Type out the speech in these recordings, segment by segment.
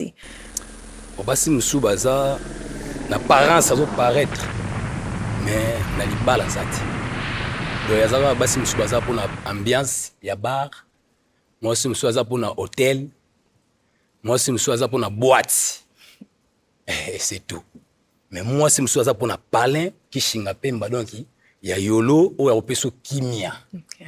te. Bon, basi mosusu baza na parence azo paraître mais na libala aza te donc aza kaka basi mosusu baza mpona ambiance ya bar mwasi mosusu aza mpona hotel mwasi mosusu aza mpona boite eh, c'est tout mais mwasi mosusu aza mpona palin kishinga mpemba donki ya yolo oyo akopesa kimia okay.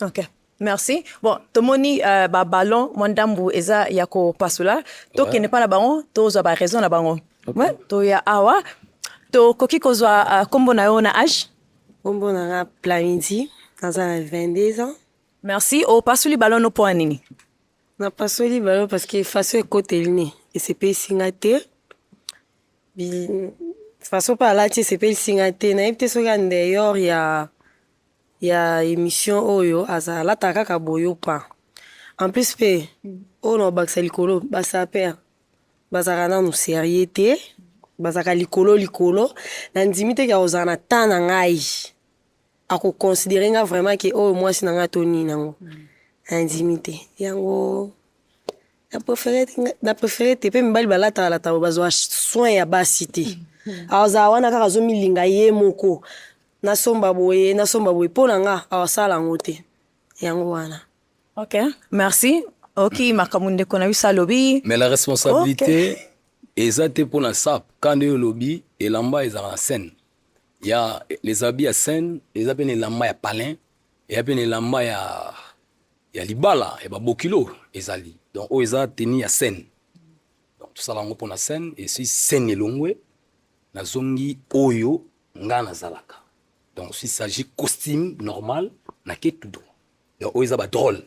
Okay. Merci. Bon, tomoni euh, ba ballon mwa ndambu eza ya kopasula tokende mpa na bango tozwa ba raison na bango okay. toya awa tokoki kozwa uh, kombo na yo na age kombo na nga plamidi naza na 22 ans merci opasuli ballon no mpo ya nini napasoli ballon parce que faso ekoteli ne esepelisi nga te faso mpe alati esepelisi nga te nayebi te soki andeyor ya ya emission oyo aza alata kaka boyo pa en plus pe oyo na obakisa likolo ba saper bazaka nanu serieux te bazaka likolo likolo na ndimi te kya kozala na temps na ngai ako considérer nga vraiment ke oyo mwasi na ngai to nini nango na ndimi te yango na préféré na préféré te pe mibali balata balata bazwa soin ya basi te azala wana kaka azomilinga ye moko nasomba boye nasomba boye mpo na nga awasala yango te yango wana ok merci oki makambo ndeko na biso alobi mais la responsabilité okay. eza te mpo na sap ka nde olobi elamba ezalaka na scène ya les habits ya scène eza mpe na elamba ya palin eya mpe na elamba ya ya libala ya babokilo ezali donc oyo eza teni ya scène donc tosala yango mpo na scène esi scène elongwe nazongi oyo nga nazalaka donc s'il s'agit costume normal nake tout droit donc oyo eza ba drôle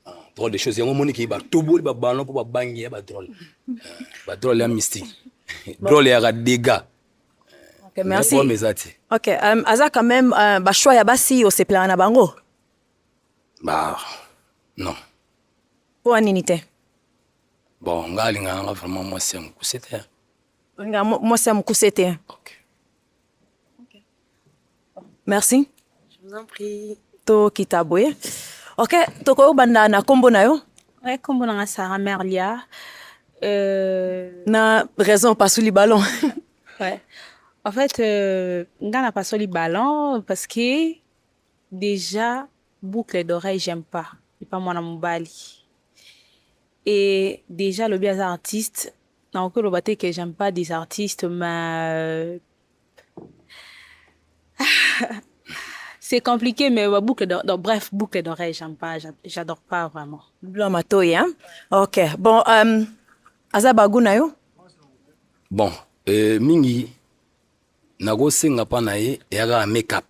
ah, drôle de choses yango omoni ke batoboli babano mpo babangi ya badrôle ba drôle ya mystique drôle yaka dégâts Okay, merci. eza te ok um, aza quand même uh, bachoix ya basi osepelaka na bango ba non mpo anini te bon nga alingaka nga vraiment mwasi ya mokuse te nga mwasi ya mokuse te okay. Okay. merci Je vous en prie. tokita boye ok tokoki kobanda na nkombo na yo ouais, nkombo nanga sara merlia euh... na raison opasuli ballon ouais. en fait euh, nga na pasoli ballon parce que déjà boucle d'oreille j'aime pas epa mwana mobali et déjà lobi aza artiste nakoki koloba te que j'aime pas des artistes mais c'est compliqué mais ba boucle de, de, bref boucle d'oreille j'aime pas j'adore pas vraiment blanc matoyi hein ok bon um, aza bagu na yo bon euh, mingi nakosenga mpa na ye eyaka make-up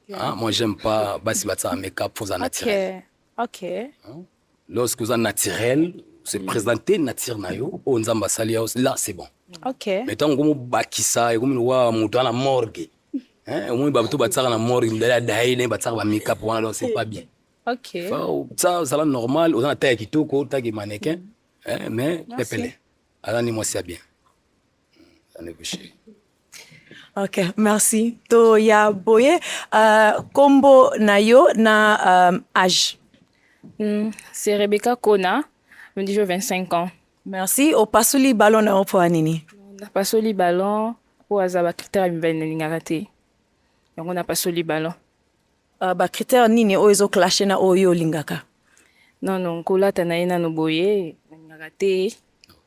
yeah. ah, moi j'aime pas basi batisaka make-up fozala naturel okay. okay. Hein? lorsque oza naturel se mm. présenter nature na yo oyo nzambe asali yao là c'est bon okay. mais ntango okomi obakisa ekomi lokola moto ana morgue eh, omoni bato batiaka na morgue mibale ya daye naye batiaka bamikap wana donc c'est pas bien okay. ça ozala normal oza na taille ya kitoko otaki manequin eh, mais pepele aza ni mwasi ya bien Ok, merci. To ya boye uh, kombo na yo na um, âge. Mm, c'est Rebecca Kona, me dis 25 ans. Merci. Au pasoli ballon na opo anini. Na pasoli ballon po azaba critère mbele na lingaka te. Yango na pasoli ballon. Uh, ba critère nini oyo ezo clasher na oyo olingaka? Non non, kolata na ye nano boye, na lingaka te.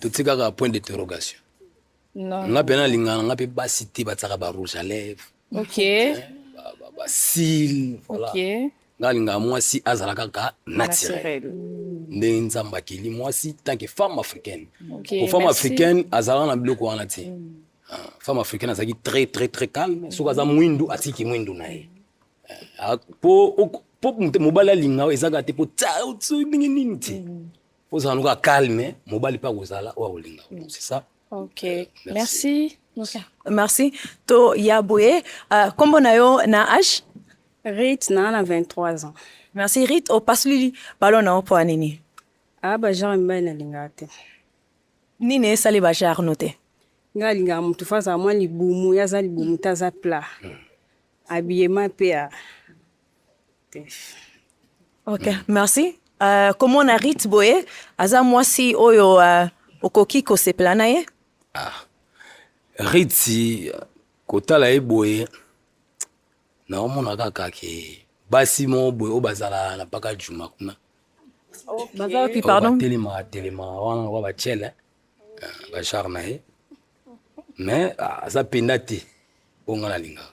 totikaka point d'interrogation nga mpe nalingana nga mpe basi te batsaka ba rouge à lèvre basile voilà nga alingaka mwasi azala kaka naturel nde nzambe akeli mwasi tanke femme africaine po femme africaine azalaka na biloko wana te mm. ah, femme africaine azalaki très très très calme soki aza mwindu atiki mwindu na ye eh, ah, po mobali alinga ezaka te po ndenge nini te mm. ozala noka calme mobali mpe akozala oyo akolinga mm. c'est ça ok merci merci, merci. to ya boye uh, nkombo na yo na age rit naa na 23 ans merci rit opasuli balo na yo mpo ya nini a ah, bagenre mibali nalingaka te nini esali bagenre no te nga alingaka motu fo azala mwa libumu ye aza libumu te aza plat mm. abiyema mpe Ok, merci. Euh, comment na Rit boye aza mwasi oyo euh, okoki kosepela na ye? Ah. Ritsi kotala ye boye naomona kaka ke basi moko boye oyo bazala na paka juma kuna batelemaka telemaka wana lokola batiele bashar na ye mais ah, aza mpenza te oyo ngai nalingaka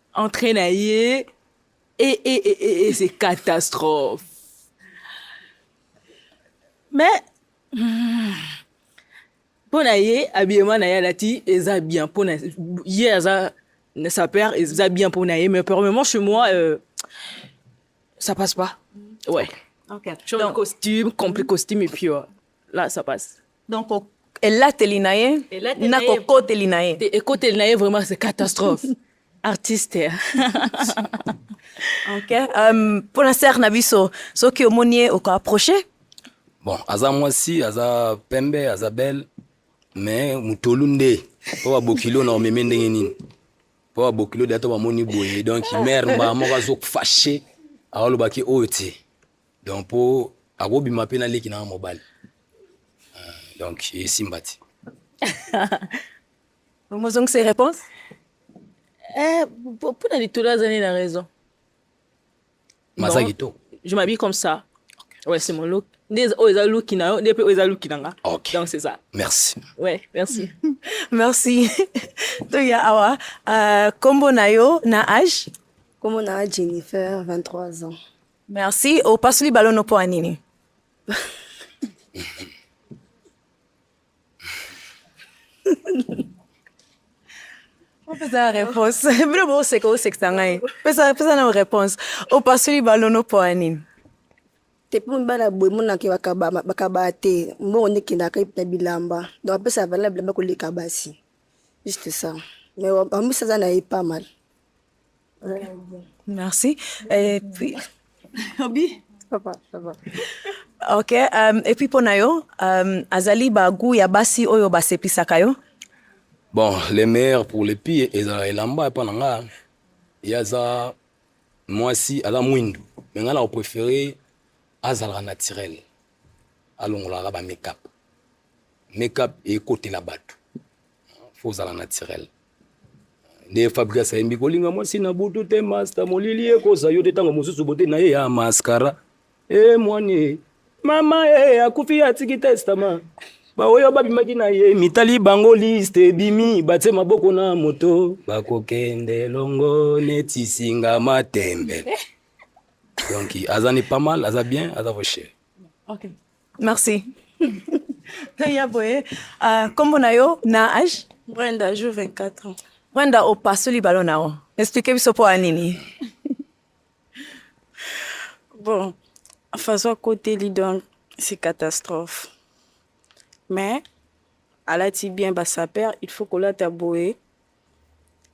Entrée na ye et eh, et eh, et eh, et c'est catastrophe. Mais hmm, mpo na ye habillement na ye alati eza bien mpo na ye aza sa père eza bien mpo na ye mais premièrement chez moi euh, ça passe pas ouais okay. Okay. Donc, costume complet costume et puis euh, là ça passe donc elateli na ye na kokoteli na ye ekoteli na ye vraiment c'est catastrophe artiste ok um, mpo na sere na biso soki omoni ye okoapproche bon aza mwasi aza pembe aza belle mais motolu nde mpo babokilo na omeme ndenge nini mpo babokilo deya to bamoni boye donc mare mbaa moko azofache aolobaki oyo te donc mpo akobima mpe na leki na mobali donc esimba ti omozongisa réponse eh, mpo na litolo azali na raison maza kitoko je m'habille comme ça okay. ouais c'est mon look nde oyo eza luki na yo nde mpe oyo eza luki na nga okay. donc c'est ça merci ouais merci merci toya awa euh, kombo na yo na age kombo na jennifer 23 ans merci opasoli balono mpo ya nini pesa réponse bino boseka osekisa ngai pesa pesa na réponse opasoli balono mpo ya nini te mpo mibala boye monaka bakabaa te mbongo nde ekendaka na bilamba donc apesa valeur bilamba koleka basi juste ça mais amisa aza na ye pas mal Merci. Et puis. Obi. Ça va, ça va. Ok, um, et puis pona yo, um, azali ba goût ya basi oyo basepisaka yo? Bon, les meilleurs pour les pires ezala elamba epa na nga ye aza mwasi aza mwindu me ngai nako préféré azalaka naturel alongolaka ba makeup makeup ekotela bato fo ozala naturel nde fabrigas ayembi kolinga mwasi na butu te masta molili ekoza yo te ntango mosusu bote na ye ya maskara e eh, mwani mama e eh, akufi atiki testama baoyo babimaki na ye mitali bango liste ebimi batie maboko na moto bakokende longo neti singa matembe donc aza ni pas mal aza bien aza voshe okay. Merci. ya boye uh, kombo na yo na age brenda jour 24 ans brenda opasoli balo na yo explike biso mpo ya nini bon façon akoteli donc c'est catastrophe mais alati bien basaper il faut kolata boye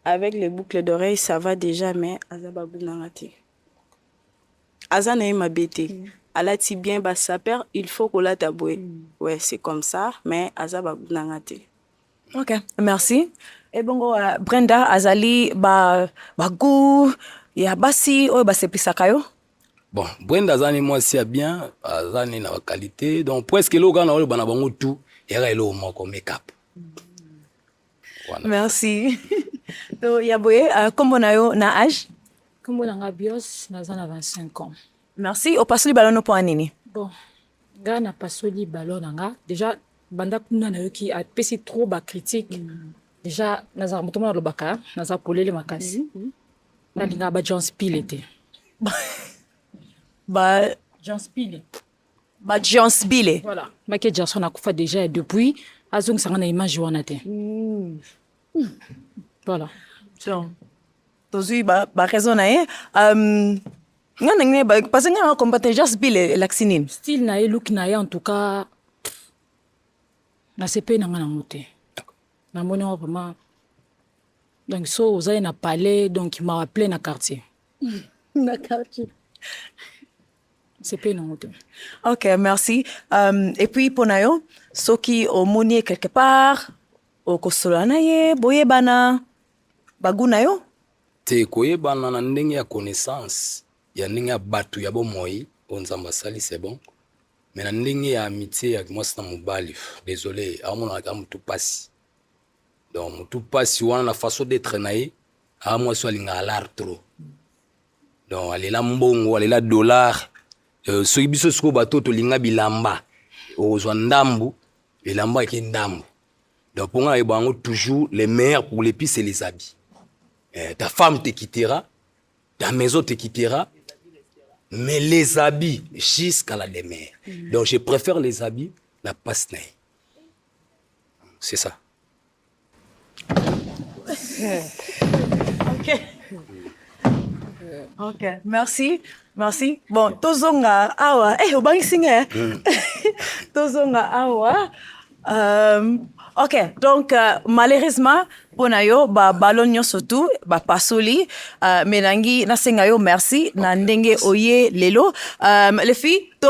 avec les boucles d'oreilles ça va déjà mais aza bagunanga te aza na ye mabe te mm. alati bien ba sapeur il faut kolata boye mm. ouais c'est comme ça mais aza babu na nga te ok merci ebongo uh, brenda azali ba bagu ya basi oyo baseplisaka yo bon brenda aza ni mwasi ya bien aza ni na bakalite donc presque eloko kaka na oloba na bango tout eyaka eloko moko makeup mm. Voilà. Merci. to ya boye euh, kombo na yo na age? Kombo na nga Bios, naza na 25 ans. Merci. Opasoli ballon mpo nini? Bon, nga na pasoli ballon na nga. Déjà banda kuna nayoki apesi trop ba critique. Mm. Déjà naza moto mona lobaka, naza polele makasi. Mm -hmm. Nalinga ba John Spill ete. ba John Spill. ba Jansbile voilà Michael Jackson akufa déjà depuis azongisa nga na image wana te mm. mm. voilà donc tozwi ba, ba raison na ye um, nga ndenge ne parce que nga na combattre Jansbile elakisi nini style na ye look na ye en tout cas nasepeli na nga nango te namoni yango vraiment donc so ozali na palais donc mawa plein na quartier na quartier c'est pas une honte. Ok, merci. Um, et puis mpo na yo soki omoni ye quelque part okosola na ye boyebana bagu na yo te koyebana na ndenge ya connaissance ya ndenge ya bato ya bomoi oyo nzambe asali c'est bon mais na ndenge ya amitié ya mwasi na mobali désolé aomonaka motu mpasi donc motu mpasi wana na façon d'être na ye aa mwasi oyo alingaka lar trop donc alela mbongo alela dollar euh, soki biso sikoyo bato tolinga bilamba okozwa ndambu elamba eke ndambu donc mpo ngai nayeba yango toujours le meilleur pour les pise les habits eh, ta femme te quittera ta maison te quittera mais les habits jusqu'à la demeure mm. donc je préfère les habits na passe na ye c'est ça Okay. Okay. Merci. Merci. Bon, tozonga awa. Eh, obangisi nga. Eh? Hmm. tozonga awa. Euh, ok, donc euh, malheureusement, mpo na yo babalon nyonso tu bapasoli uh, me nangi nasenga yo merci okay. na ndenge oye lelo um, euh, lefi to